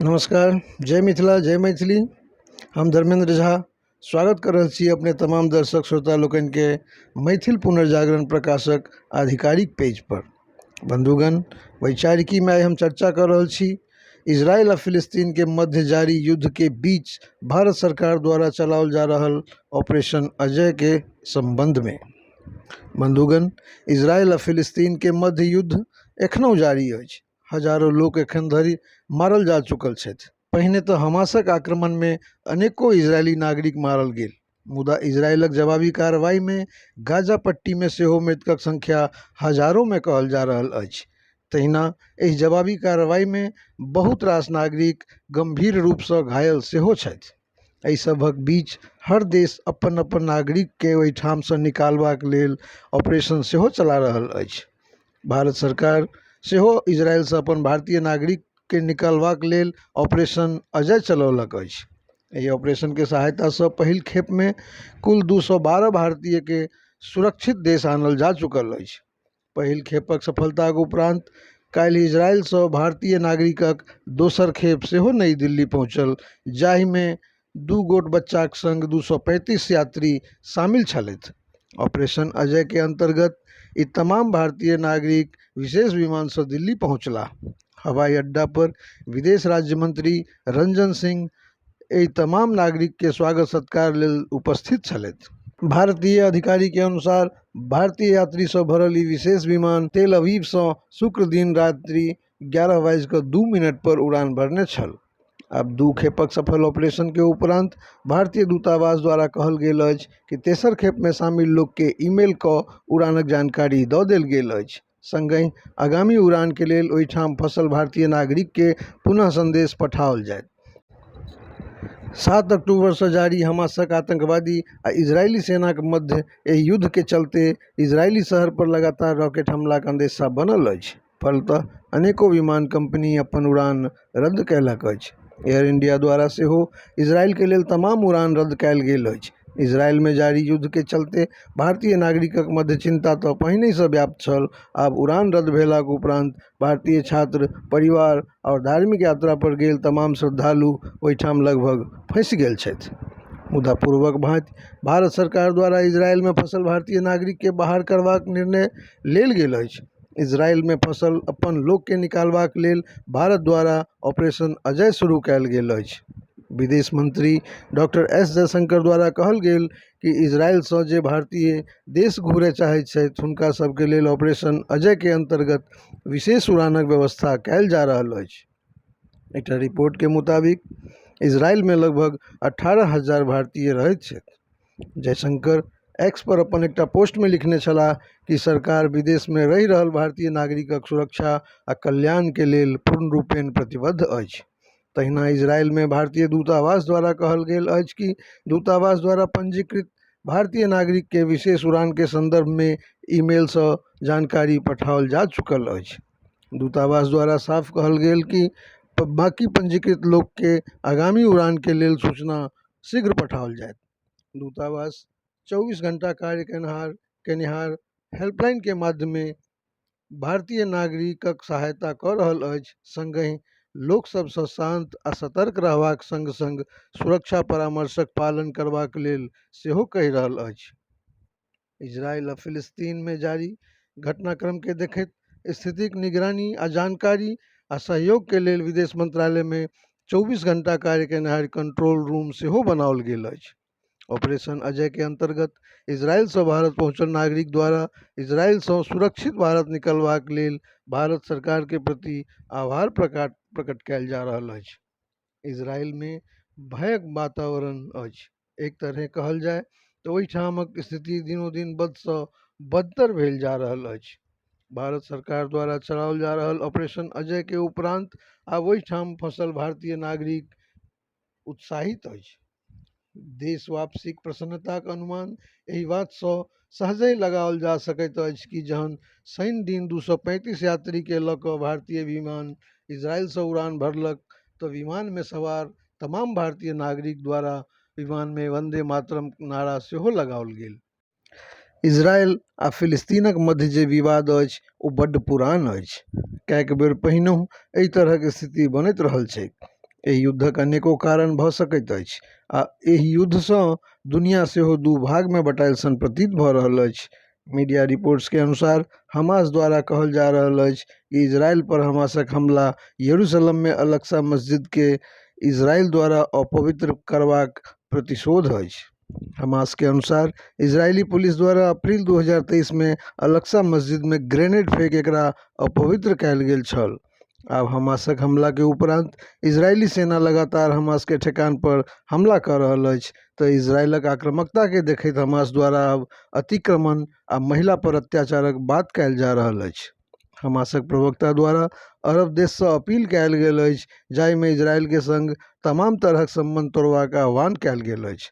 नमस्कार जय मिथिला जय मैथिली हम धर्मेन्द्र झा स्वागत कऽ रहल छी अपने तमाम दर्शक श्रोता लोकनिके मैथिल पुनर्जागरण प्रकाशक आधिकारिक पेजपर बन्धुगण वैचारिकीमे आइ हम चर्चा कऽ रहल छी इसराइल आ फिलिस्तीनके मध्य जारी युद्धके बीच भारत सरकार द्वारा चलाओल जा रहल ऑपरेशन अजयके सम्बन्धमे बन्धुगण इसराइल आ फिलिस्तीनके मध्य युद्ध एखनहु जारी अछि हजारो लोक एखन धरि मारल जा चुकल छथि पहिने तऽ हमासक आक्रमणमे अनेको इजरायली नागरिक मारल गेल मुदा इजरायलक जवाबी कार्रवाइमे गाजा पट्टीमे सेहो मृतकक संख्या हजारोमे कहल जा रहल अछि तहिना एहि जवाबी कार्रवाइमे बहुत रास नागरिक गम्भीर रूपसँ घायल सेहो छथि एहि सभक बीच हर देश अपन अपन नागरिककेँ ओहिठामसँ निकालबाक लेल ऑपरेशन सेहो चला रहल अछि भारत सरकार सेहो इजरायलसँ अपन भारतीय नागरिककेँ निकालबाक लेल ऑपरेशन अजय चलौलक अछि एहि ऑपरेशनके सहायतासँ पहिल खेपमे कुल दू सए बारह भारतीयकेँ सुरक्षित देश आनल जा चुकल अछि पहिल खेपक सफलताक उपरान्त काल्हि इजरायलसँ भारतीय नागरिकक दोसर खेप सेहो नई दिल्ली पहुँचल जाहिमे दू गोट बच्चाक संग दू सए पैंतीस यात्री शामिल छलथि। ऑपरेशन अजय के अंतर्गत ई तमाम भारतीय नागरिक विशेष विमान सं दिल्ली पहुंचलाह। हवाई अड्डा पर विदेश राज्य मंत्री रंजन सिंह, एहि तमाम नागरिकके स्वागत सत्कार लेल उपस्थित छलथि भारतीय अधिकारीके अनुसार भारतीय यात्रीसँ भरल ई विशेष विमान तेल अवीवसँ शुक्र दिन रात्रि एगारह बाजि कऽ दू मिनटपर उड़ान भरने छल आब दू खेपक सफल ऑपरेशनके उपरान्त भारतीय दूतावास द्वारा कहल गेल अछि कि तेसर खेपमे शामिल लोकके ईमेल कऽ उड़ानक जानकारी दऽ देल गेल अछि संगहि आगामी उड़ान के लेल ओहिठाम फंसल भारतीय नागरिक के पुनः संदेश पठाओल जायत। सात अक्टूबर सं जारी हमासक आतंकवादी आ इजरायली सेनाक मध्य एहि युद्ध के चलते इजरायली शहर पर लगातार रॉकेट हमलाक अंदेशा बनल अछि। फलतः अनेकों विमान कंपनी अपन उड़ान रद्द कयलक अछि एयर इंडिया द्वारा सेहो इजरायलके लेल तमाम उड़ान रद्द कयल गेल अछि इजरायलमे जारी युद्धके चलते भारतीय नागरिकक मध्य चिन्ता तऽ पहिनेसँ व्याप्त छल आब उड़ान रद्द भेलाक उपरान्त भारतीय छात्र परिवार आओर धार्मिक यात्रापर गेल तमाम श्रद्धालु ओइठाम लगभग फँसि गेल छथि मुदा पूर्वक भाँति भारत सरकार द्वारा इजरायलमे फँसल भारतीय नागरिकके बाहर करबाक निर्णय लेल गेल अछि इजरायल मे फँसल अपन लोक केँ निकालबाक लेल भारत द्वारा ऑपरेशन अजय शुरू कयल गेल अछि। विदेश मंत्री डॉक्टर एस जयशंकर द्वारा कहल गेल कि इजरायल सँ जे भारतीय देश घुरय चाहैत छथि हुनका सभ केँ लेल ऑपरेशन अजय केँ अंतर्गत विशेष उड़ानक व्यवस्था कयल जा रहल अछि। एकटा रिपोर्टके मुताबिक इजरायलमे लगभग अठारह हजार भारतीय रहैत छथि जयशंकर एक्स पर अपन एकटा पोस्टमे लिखने छलाह कि सरकार विदेशमे रहि रहल भारतीय नागरिकक सुरक्षा आ कल्याणके लेल पूर्ण रूपेण प्रतिबद्ध अछि तहिना इजरायलमे भारतीय दूतावास द्वारा कहल गेल अछि कि दूतावास द्वारा पंजीकृत भारतीय नागरिकके विशेष उड़ानके सन्दर्भमे ईमेलसँ जानकारी पठाओल जा चुकल अछि दूतावास द्वारा साफ कहल गेल कि बाकी पञ्जीकृत लोकके आगामी उड़ानके लेल सूचना शीघ्र पठाओल जायत दूतावास चौबीस घण्टा कार्य केनिहार केनिहार हेल्पलाइनके माध्यमे भारतीय नागरिकक सहायता कऽ रहल अछि सङ्गहि लोक सभसँ शान्त आ सतर्क रहबाक सङ्ग सङ्ग सुरक्षा परामर्शक पालन करबाक लेल सेहो कहि रहल अछि इजरायल आ फिलिस्तीनमे जारी घटनाक्रमकेँ देखैत स्थितिक निगरानी आ जानकारी आ सहयोगके लेल विदेश मन्त्रालयमे चौबीस घण्टा कार्य केनिहार कन्ट्रोल रूम सेहो बनाओल गेल अछि ऑपरेशन अजयके अन्तर्गत इजरायलसँ भारत पहुँचल नागरिक द्वारा इजरायलसँ सुरक्षित भारत निकलबाक लेल भारत सरकारके प्रति आभार प्रकाट प्रकट कयल जा रहल अछि इजरायलमे भयक वातावरण अछि एक तरहे कहल जाय तऽ ओहिठामक स्थिति दिनोदिन बदसँ बदतर भेल जा रहल अछि भारत सरकार द्वारा चलाओल जा रहल ऑपरेशन अजयके उपरान्त आब ओहिठाम फँसल भारतीय नागरिक उत्साहित अछि देश वापसीक प्रसन्नताक अनुमान एहि बातसँ सहजहि लगाओल जा सकैत अछि कि जहन शनि दिन दू सए पैंतीस यात्रीकेँ लऽ कऽ भारतीय विमान इजरायलसँ उड़ान भरलक तऽ विमानमे सवार तमाम भारतीय नागरिक द्वारा विमानमे वन्दे मातरम नारा सेहो लगाओल गेल इजरायल आ फिलिस्तीनक मध्य जे विवाद अछि ओ बड्ड पुरान अछि कएक बेर पहिनहु एहि तरहक स्थिति बनैत रहल छैक एहि युद्धक अनेको कारण भऽ सकैत अछि आ एहि युद्धसँ दुनिया सेहो दू भागमे बँटायल सन प्रतीत भऽ रहल अछि मीडिया रिपोर्ट्सके अनुसार हमास द्वारा कहल जा रहल अछि कि इजरायल पर हमासक हमला यरूशलममे अलक्सा मस्जिदके इजरायल द्वारा अपवित्र करबाक प्रतिशोध अछि हमास के अनुसार इजरायली पुलिस द्वारा अप्रैल दू हजार तेइसमे अल अक्सा मस्जिदमे ग्रेनेड फेंक एकरा अपवित्र कयल गेल छल आब हमासक हमलाके उपरान्त इजरायली सेना लगातार हमासके ठेकानपर हमला कऽ रहल अछि तऽ इजरायलक आक्रामकताके देखैत हमास द्वारा आब अतिक्रमण आ महिलापर अत्याचारक बात कयल जा रहल अछि हमासक प्रवक्ता द्वारा अरब देशसँ अपील कयल गेल अछि जाहिमे इजरायलके सङ्ग तमाम तरहक सम्बन्ध तोड़बाक आह्वान कयल गेल अछि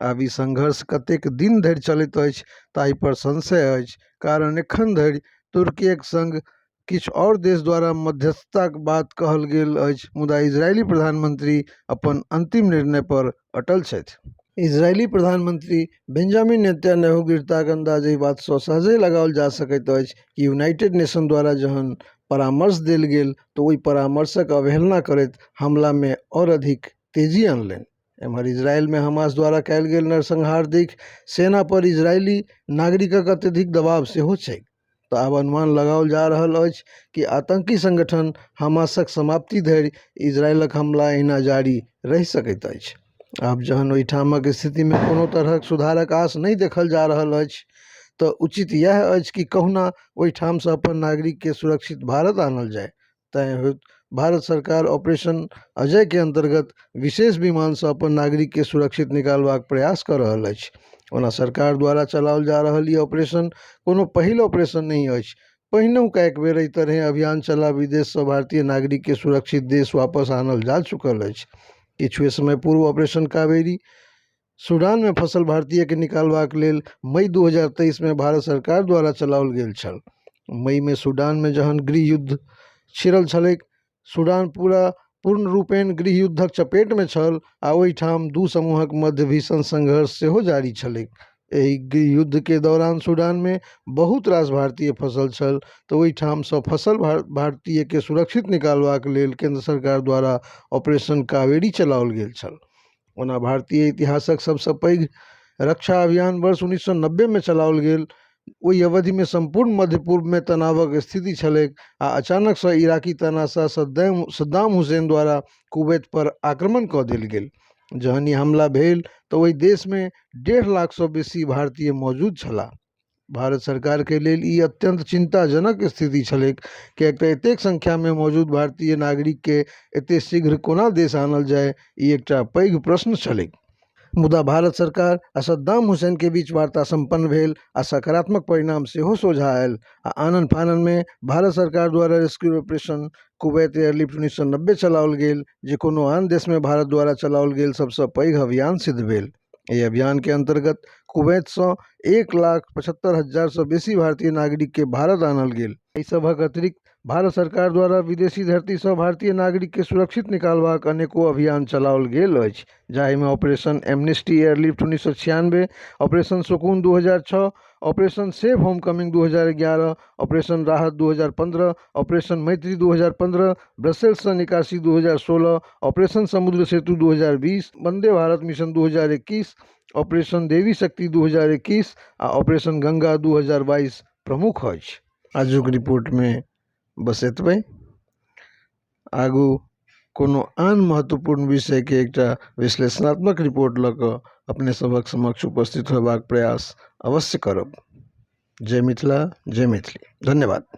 आब ई संघर्ष कतेक दिन धरि चलैत अछि ताहिपर संशय अछि कारण एखन धरि तुर्कीक सङ्ग किछु आओर देश द्वारा मध्यस्थताक बात कहल गेल अछि मुदा इजरायली प्रधानमन्त्री अपन अन्तिम निर्णयपर अटल छथि। इजरायली प्रधानमंत्री बेंजामिन नेतन्याहूक गिरताक अंदाज एहि बात सं सहजहि लगाओल जा सकैत अछि कि यूनाइटेड नेशन द्वारा जहन परामर्श देल गेल त ओहि परामर्शक अवहेलना करैत हमला मे आओर अधिक तेजी अनलनि। एम्हर इजरायल मे हमास द्वारा कयल गेल नरसंहार देखि सेना पर इजरायली नागरिकक अत्यधिक दबाव सेहो छैक। तऽ आब अनुमान लगाओल जा रहल अछि कि आतङ्की सङ्गठन हमासक समाप्ति धरि इजरायलक हमला अहिना जारी रहि सकैत अछि आब जहन ओइठामक स्थितिमे कोनो तरहक सुधारक आस नहि देखल जा रहल अछि तऽ उचित इएह अछि कि कहुना ओइठामसँ अपन नागरिकके सुरक्षित भारत आनल जाइ तैँ होइत भारत सरकार ऑपरेशन अजयके अन्तर्गत विशेष विमानसँ अपन नागरिकके सुरक्षित निकालबाक प्रयास कऽ रहल अछि ओना सरकार द्वारा चलाओल जा रहल ई ऑपरेशन कोनो पहिल ऑपरेशन नहि अछि पहिनहुका एक बेर एहि तरहे अभियान चला विदेशसँ भारतीय नागरिकके सुरक्षित देश वापस आनल जा चुकल अछि किछुए समय पूर्व ऑपरेशन कावेरी सूडान मे फँसल भारतीय केँ निकालबाक लेल मई दू हजार तेइस मे भारत सरकार द्वारा चलाओल गेल छल। मई मे सूडान मे जहन गृहयुद्ध छिड़ल छलैक, सूडान पूरा पूर्णरूपेण गृहयुद्धक चपेट मे छल आ ओहि ठाम दू समूहक मध्य भीषण संघर्ष सेहो जारी छलैक। एहि गृहयुद्ध केँ दौरान सूडान मे बहुत रास भारतीय फँसल छल तँ ओहि ठाम सँ फँसल भारतीय केँ सुरक्षित निकालबाक लेल केन्द्र सरकार द्वारा ऑपरेशन कावेरी चलाओल गेल छल। ओना भारतीय इतिहासक सभसँ पैघ रक्षा अभियान वर्ष उन्नैस सए नब्बेमे चलाओल गेल ओहि अवधिमे सम्पूर्ण मध्य पूर्वमे तनावक स्थिति छलैक आ अचानकसँ इराकी तानाशाह सद्दैम सद्दाम हुसैन द्वारा कुवैतपर आक्रमण कऽ देल गेल जहन ई हमला भेल तऽ ओहि देशमे डेढ़ लाखसँ बेसी भारतीय मौजूद छलाह भारत सरकारके लेल ई अत्यन्त चिन्ताजनक स्थिति छलैक किएक तऽ एतेक सङ्ख्यामे मौजूद भारतीय नागरिकके एते शीघ्र कोना देश आनल जाइ ई एकटा पैघ प्रश्न छलैक मुदा भारत सरकार आओर सद्दाम हुसैनके बीच वार्ता सम्पन्न भेल आओर सकारात्मक परिणाम सेहो सोझा आयल आओर आनन फाननमे भारत सरकार द्वारा रेस्क्यू ऑपरेशन कुबैत एयरलिफ्ट उन्नैस सए नब्बे चलाओल गेल जे कोनो आन देशमे भारत द्वारा चलाओल गेल सबसँ पैघ अभियान सिद्ध भेल एहि अभियान के अंतर्गत कुवैत सँ एक लाख पचहत्तर हजार सँ बेसी भारतीय नागरिक केँ भारत आनल गेल। एहि सभक अतिरिक्त भारत सरकार द्वारा विदेशी धरती सँ भारतीय नागरिक केँ सुरक्षित निकालबाक अनेको अभियान चलाओल गेल अछि, जाहि मे ऑपरेशन एमनेस्टी एयरलिफ्ट उन्नीस सौ छियानबे, ऑपरेशन सुकून दू हजार छह, ऑपरेशन सेफ होम कमिंग दू हजार एगारह ऑपरेशन राहत दू हजार पन्द्रह ऑपरेशन मैत्री दू हजार पन्द्रह ब्रसेल्ससँ निकासी दू हजार सोलह ऑपरेशन समुद्र सेतु दू हजार बीस वन्दे भारत मिशन दू हजार एकैस ऑपरेशन देवी शक्ति दू हजार एकैस आ ऑपरेशन गङ्गा दू हजार बाइस प्रमुख अछि आजुक रिपोर्टमे बस एतबे आगू कोनो आन महत्वपूर्ण विषयके एकटा विश्लेषणात्मक रिपोर्ट लऽ कऽ अपने सभक समक्ष उपस्थित होयबाक प्रयास अवश्य करब जय मिथिला जय मैथिली धन्यवाद